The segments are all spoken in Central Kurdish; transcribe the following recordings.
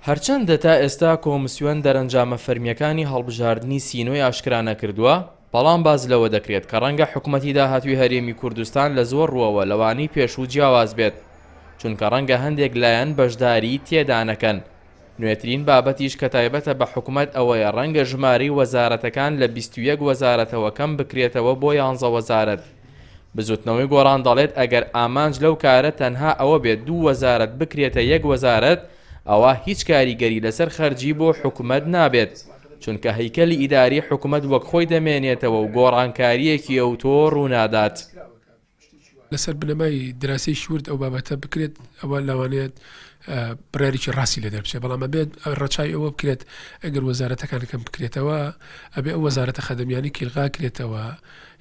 هەرچەندە تا ئێستا کۆمسیۆن دەرەنجامە فەرمییەکانی هەڵبژاردنی سینۆی ئاشکرا نەکردووە، بەڵام باس لەوە دەکرێت کە ڕەنگە حکومەتی داهاتووی هەرێمی کوردستان لە زۆر ڕووەوە لەوانەی پێشوو جیاواز بێت، چونکە ڕەنگە هەندێک لایەن بەشداریی تێدا نەکەن، نوێترین بابەتیش کە تایبەتە بە حکومەت ئەوەیە ڕەنگە ژمارەی وەزارەتەکان لە بیست و یەک وەزارەتەوە کەم بکرێتەوە بۆ یانزە وەزارەت. بزوتنەوەی گۆڕان دەڵێت ئەگەر ئامانج لەو کارە تەنها ئەوە بێت دوو وەزارەت بکرێتە یەک وەزارەت ئەوا هیچ کاریگەری لەسەر خەرجی بۆ حکومەت نابێت چونکە هەیکەلی ئیداری حکومەت وەک خۆی دەمێنێتەوە و گۆڕانکارییەکی ئەوتۆ ڕوونادات. لەسەر بنەمای دراسەیەکی ورد ئەو بابەتە بکرێت ئەوە لەوانەیە بڕارێکی ڕاستی لە دەربچێت بەڵام ئەبێت ڕەچای ئەوە بکرێت ئەگەر وەزارەتەکان کەم بکرێتەوە ئەبێ ئەو وەزارەتە خەدەمیانی کیلغا کرێتەوە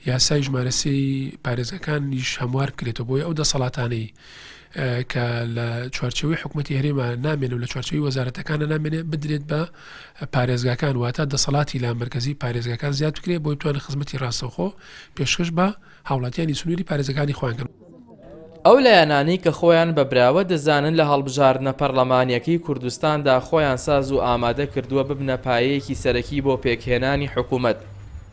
یاسای ژمارەسی پارێزەکان نیش هەموار بکرێتەوە بۆی ئەو دەسەڵاتانەی کە لە چوارچەوەی حکوومەتتی هەرێمە نامێن و لە چوارچەوەی وەزارەتەکانە نامێنێ بدرێت بە پارێزگاکان واتە دەسەڵاتی لا مرکزی پارێزگاکان زیاد بکرێت بۆی توان خزمەتی ڕاستەوخۆ پێشکەش بە هاوڵاتیانی سنووری پارێزگاکانی خۆیان کەن. ئەو لایەنانەی کە خۆیان بە براوە دەزانن لە هەڵبژاردنە پەرلەمانیەکەی کوردستاندا خۆیان ساز و ئامادە کردووە ببنە پایەیەکی سەرەکی بۆ پێکهێنانی حکومەت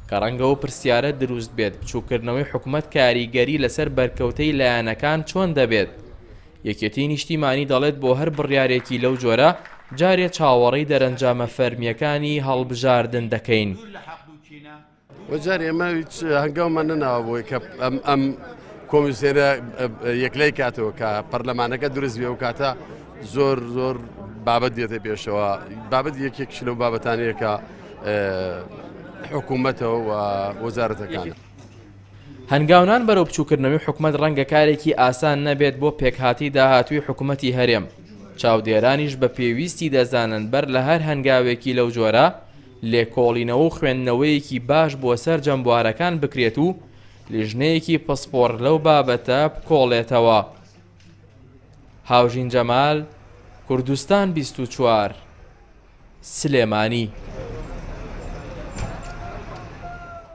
کە ڕەنگە و پرسیارە دروست بێت بچوککردنەوەی حکومەت کاریگەری لەسەر بەرکەوتەی لایەنەکان چۆن دەبێت؟ یەکێتی نیشتیمانی دەڵێت بۆ هەر بڕیارێکی لەو جۆرە جارێ چاوەڕێی دەرەنجامە فەرمیەکانی هەڵبژاردن دەکەین. وجار ئێمە هیچ هەنگاومان نەناوە بۆی کە ئەم ئەم کۆمیسێرە یەکلای کاتەوە کە پەرلەمانەکە دروست بێ و کاتە زۆر زۆر بابەت دێتە پێشەوە بابەت یەکێک شلە و بابەتانەیەکە حکوومەتەوە و وەزارەتەکان. هەنگاونان بەرەو بچووکردنەوەی حکومت ڕەنگە کارێکی ئاسان نەبێت بۆ پێکهاتی داهاتووی حکوومەتی هەرێم چاودێرانیش بە پێویستی دەزانن بەر لە هەر هەنگاوێکی لەو جۆرە لێکۆڵینەوە و خوێندنەوەیەکی باش بۆ سەرجەم بوارەکان بکرێت و لیژنەیەکی پسپۆڕ لەو بابەتە بکۆڵێتەوە. هاوژین جەمال، کوردستان بیست و چوار، سلێمانی.